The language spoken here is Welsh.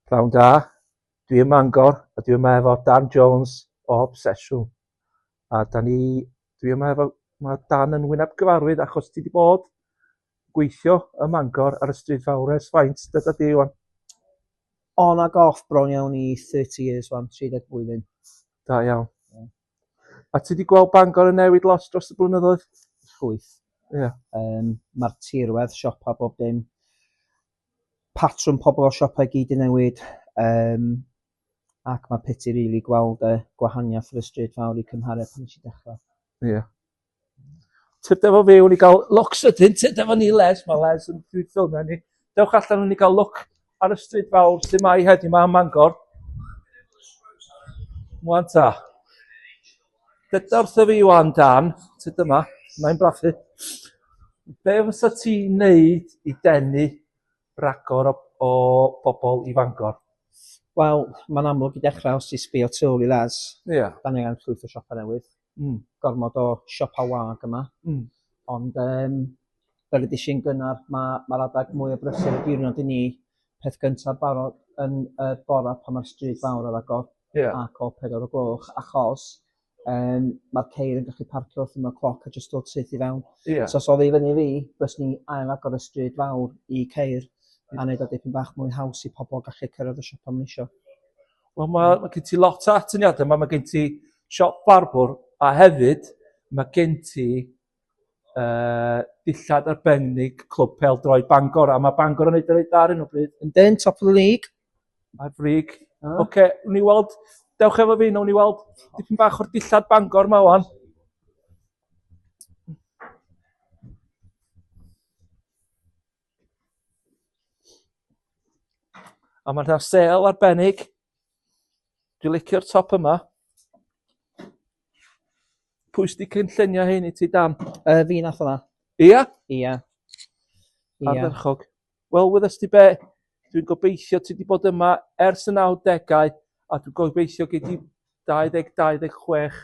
Pnawn da, dwi ym Mangor a dwi yma efo Dan Jones o Obsesiwn. A da ni, dwi yma efo, mae Dan yn wyneb gyfarwydd achos ti wedi bod gweithio ym Mangor ar y stryd fawr ers faint dyda di Iwan? On a goff bron iawn i 30 years wan, 30 blwyddyn. Da iawn. Yeah. A ti wedi gweld Bangor yn newid lot dros y blynyddoedd? Llwyth. Yeah. Um, Mae'r tirwedd, siopa, bob dim patrwm pobl o siopau gyd 'di newid yym ac ma' piti rili gweld y gwahaniath ar y stryd fawr i cymharu pan nes i dechra. Ie. Tyd efo fi wn i ga'l lwcs wedyn tyd efo ni Les ma' Les yn pryd ffilmio ni. Dewch allan wn i ga'l lwc ar y stryd fawr lle mae heddi ma' ym Mangor. Ŵan ta. Dyda wrtho fi wan Dan, ti dyma, mae'n blaffu. Be fysa ti wneud i denu ragor o, o bobl i Fangor? Wel, mae'n amlwg i dechrau os ti'n sbio tu ôl i Les. Ie. Yeah. Da ni angen llwyth o siopa newydd. Mm. Gormod o siopa wag yma. Mm. Ond um, fel ydych chi'n gynnar, mae mae'r adeg mwy o brysur y diwrnod i ni, peth gyntaf barod yn y bora pan mae'r stryd fawr ar agor yeah. ac o pedair o gloch achos um, mae'r ceir yn gallu parcio wrth yma cloc a jyst dod syth i fewn. Yeah. So os oedd i fyny fi, bys ni ail agor y stryd fawr i ceir a wneud o dipyn bach mwy haws i pobl gallu cyrraedd y siop am nisio. Wel mae, mae gen ti lot o atyniadau, mae, mae gen ti siop barbwr a hefyd mae gen ti uh, dillad arbennig Clwb Pel Droed Bangor, a mae Bangor yn ei dweud da ar hyn o bryd. Yn den, top of the league. Ar frig. Oce, okay, wni weld, dewch efo fi, wni weld dipyn bach o'r dillad Bangor ma o'n. A mae yna sel arbennig. Dwi'n licio'r top yma. Pwy sydd wedi cynllunio hyn i ti dan? Uh, fi nath hwnna. Ia? Ia. Ardderchog. Wel, wyddes ti be, dwi'n gobeithio ti wedi bod yma ers y 90au a dwi'n gobeithio gei di 2026